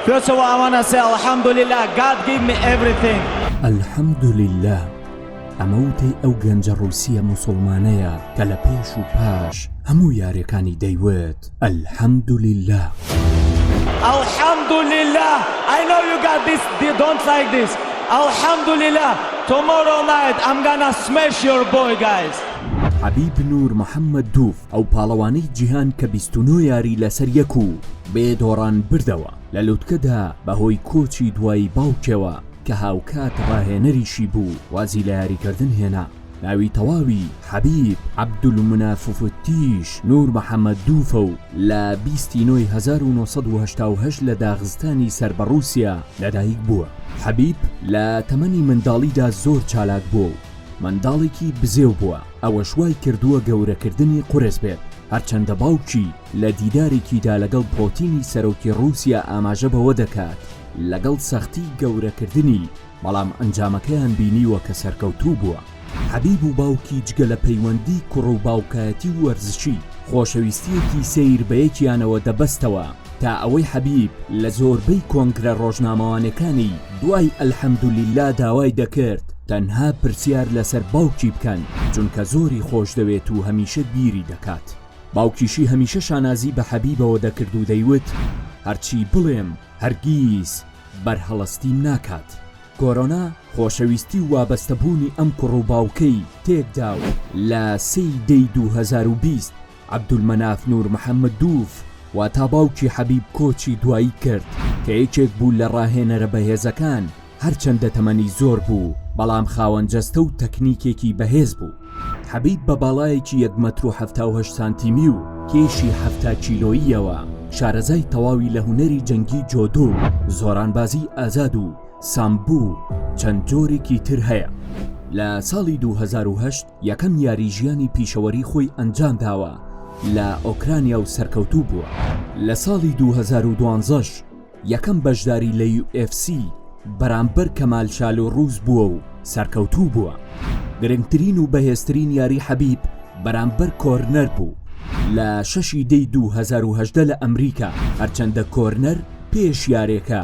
پێچە وە ئەوە نە سێ الحمدللە گاد گیڤ می ئێڤریثینگ. الحمدللە ئەمە وتەی ئەو گەنجە ڕوسیە موسوڵمانەیە کە لە پێش و پاش هەموو یارێکانی دەیوت الحمدللە. الحمدللە ئای نۆو یو گاد دیس دی دۆنت لایک دیس الحمدللە تومۆرۆو نایت ئەم گانا سمێش یۆر بۆی گایز. حبیب نور محمد دوف ئەو پاڵەوانەی جیهان کە بیست و نۆ یاری لەسەر یەک و بێ دۆڕان بردەوە لە لوتکەدا بەهۆی کۆچی دوایی باوکێەوە کە هاوکات ڕاهێنەریشی بوو وازی لە یاریکردن هێنا ناوی تەواوی حەبیب عەبدولمناففتیش نور محەممەد دووفە و لە بیستی نۆی 1970 لە داغستانی سەر بە ڕووسیا لەدایک بووە حەبیب لە تەمەنی منداڵیدا زۆر چالاک بووە و منداڵێکی بزێو بووە ئەوەش وای کردووە گەورەکردنی قورس بێت، هەرچەندە باوکی لە دیدارێکیدا لەگەڵ پۆتینی سەرۆکی ڕووسیا ئاماژە بەوە دەکات لەگەڵ سەختی گەورەکردنی، بەڵام ئەنجامەکەیان بینیوە کە سەرکەوتوو بووە. حەبیب و باوکی جگە لە پەیوەندی کوڕ و باوکایەتی و وەرزشی، خۆشەویستییەکی سەیر بە یەکیانەوە دەبەستەوە. تا ئەوەی حەبیب لە زۆربەی کۆنگرە ڕۆژنامەوانێکانی دوای الحمدللە داوای دەکرد تەنها پرسیار لەسەر باوکی بکەن چونکە زۆری خۆشدەوێت و هەمیشە بیری دەکات باوکیشی هەمیشە شانازی بە حەبیبەوە دەکرد و دەیوت هەرچی بڵێم هەرگیز بەرهەڵستیم ناکات کۆرۆنا خۆشەویستی و وابەستەبوونی ئەم کوڕ و باوکەی تێکدا و لە سێی دەی دوو هەزار و بیست عەبدولمەناف نورمحەممدووف واتا باوکی حەبیب کۆچی دوایی کرد کە یەکێک بوو لە ڕاهێنەرە بەهێزەکان، هەرچەندە تەمەنی زۆر بوو، بەڵام خاوەن جەستە و تەکنیکێکی بەهێز بوو. حەبیب بە باڵایەکی یەک مەتر و حەفتا و هەشت سانتیمی و کێشی حەفتا کیلۆییەوە شارەزای تەواوی لە هونەری جەنگی جۆدۆ و زۆرانبازیی ئازاد و سامبۆ و چەند جۆرێکی تر هەیە. لە ساڵی دوو هەزار و هەشت یەکەم یاری ژیانی پیشەوەری خۆی ئەنجام داوە لە ئۆکرانیا و سەرکەوتوو بووە لە ساڵی 2012ش یەکەم بەشداری لە UFC بەرامبەر کەمال شال و ڕوز بووە و سەرکەوتوو بووە گرنگترین و بەهێزترین یاری حەبیب بەرامبەر کۆرنەر بوو لە شەشی دەی 2010 لە ئەمریکا هەرچەندە کۆرنەر پێش یارێکە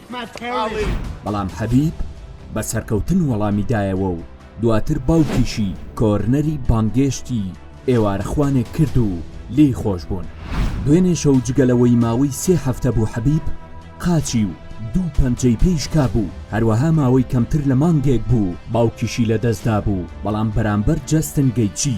بەڵام حەبیب بە سەرکەوتن وەڵامی دایەوە و دواتر باوکیشی کۆرنەری بانگێشتی ئێوارەخوانێک کرد و لێی خۆش بوون دوێنێ شەو جگە لەوەی ماوەی سێ هەفتە بوو حەبیب قاچی و دوو پەنجەی پێی شکابوو هەروەها ماوەی کەمتر لە مانگێک بوو باوکیشی لەدەستدا بوو بەڵام بەرامبەر جەستن گەیچی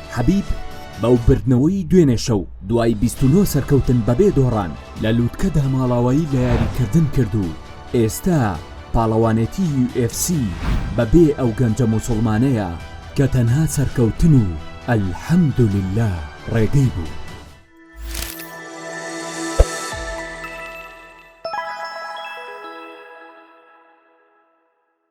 حەبیب بەو بردنەوەی دوێنێ شەو دوای 29 سەرکەوتن بەبێ دۆڕان لە لووتکەدا ماڵاوایی لە یاریکردن کرد و ئێستا پاڵەوانێتی UFC بەبێ ئەو گەنجە موسوڵمانەیە کە تەنها سەرکەوتن و الحمدللە ڕێگەی بوو.